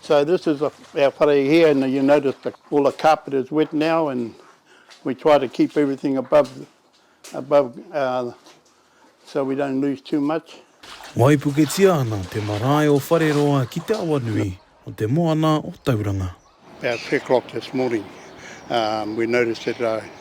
So this is a, our whare here and you notice the, all the carpet is wet now and we try to keep everything above, above uh, so we don't lose too much. Waipuketia ana te marae o Whareroa ki te awa nui o te moana o Tauranga. About 3 o'clock this morning um, we noticed that uh,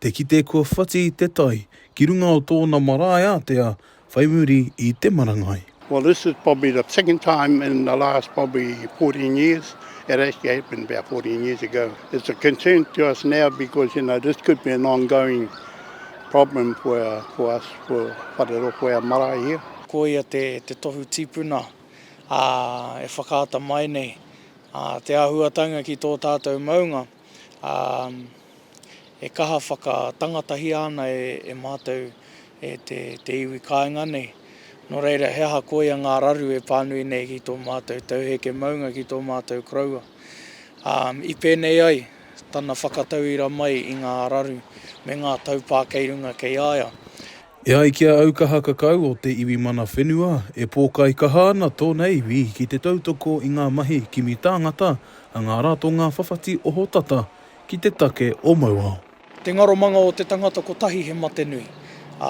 te kite kua whati te tai ki runga o tōna marae ātea whai muri i te marangai. Well this is probably the second time in the last probably fourteen years, it actually happened about fourteen years ago. It's a concern to us now because you know this could be an ongoing problem for our, for us, for Wharero, for our marae here. Ko ia te tohu tipuna e whakaata mai nei te āhuatanga ki tō tātou maunga. ā, e kaha whakatangatahia ana e mātou e te iwi kāinga nei. Nō reira, he aha koia ngā raru e pānui nei ki tō mātou tauheke maunga, ki tō mātou koroua? Ā, i pēnei ai tana whakatauira mai i ngā raru me ngā taupā kei runga kei a ia. E ai ki a Aukaha Kakau o te iwi Mana Whenua, e pōkai kaha ana tōna iwi ki te tautoko i ngā mahi kimi tāngata a ngā ratonga whawhati ohotata ki te take o Mauao. Te ngaromanga o te tangata kotahi he mate nui, ā,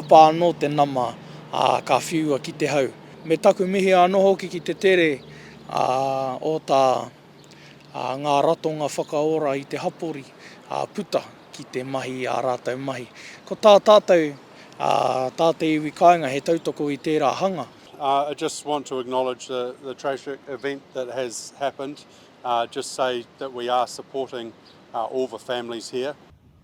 āpā anō te nama, ā, ka whiua ki te hau. Me taku mihi anō hoki ki te tere, ā, o tā ā, ngā ratonga whakaora i te hapori, ā, puta ki te mahi i ā rātou mahi. Ko tā tātou, ā, tā te iwi kāinga he tautoko i tērā hanga. I just want to acknowledge the the tragic event that has happened, just say that we are supporting all the families here.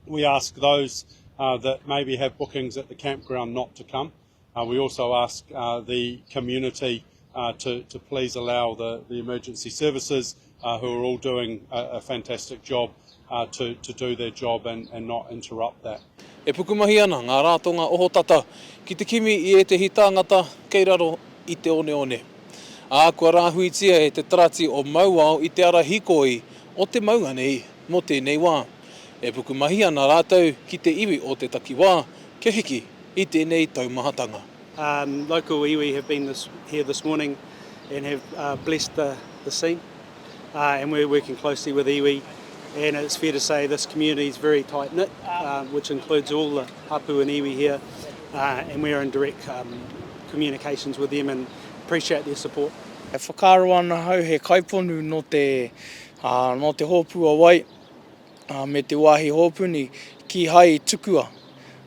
We ask those that maybe have bookings at the campground not to come. Uh, we also ask uh, the community uh, to, to please allow the, the emergency services, uh, who are all doing a, a fantastic job, uh, to, to do their job and, and not interrupt that. E pukumahi ana ngā rātonga ohotata ki te kimi i ētehi tāngata kei raro i te oneone. Ā, kua rāhuitia e te tarati o Mauao i te ara hikoi o te maunga nei. Mō tēnei wā, e pukumahi ana rātou ki te iwi o te takiwā kia hiki i tēnei taumahatanga. Local iwi have been here this morning and have blessed the the scene and we're working closely with iwi and it's fair to say this community is very tight knit which includes all the hapu and iwi here and we're in direct communications with them and appreciate their support. E whakaaro ana ahau he kaiponu nō te Ā, nō te hōpū a wai, ā, me te wāhi hōpuni, kīhai i tukua,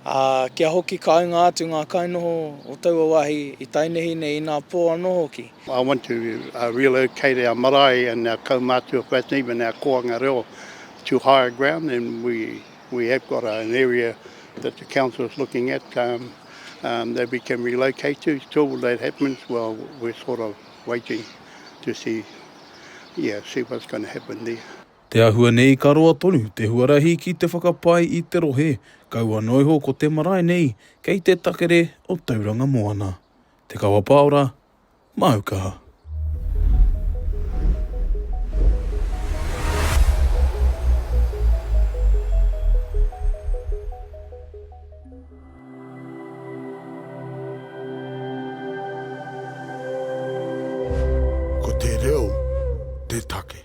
ā, kia hoki kāinga atu ngā kainoho o taua wāhi i tainehi nei inā pō anō hoki. I want to relocate our marae and our kaumātua whānau, even our koanga reo to higher ground and we we have got an area that the council is looking at that we can relocate to, till that happens well we're sort of waiting to see. yeah, see what's going to happen there. Te ahua nei ka roa tonu te huarahi ki te whakapai i te rohe, kaua noa iho ko te marae nei kei te takere o Tauranga Moana. Te Kawa Paora, Māu Kaha. Ko te reo te take.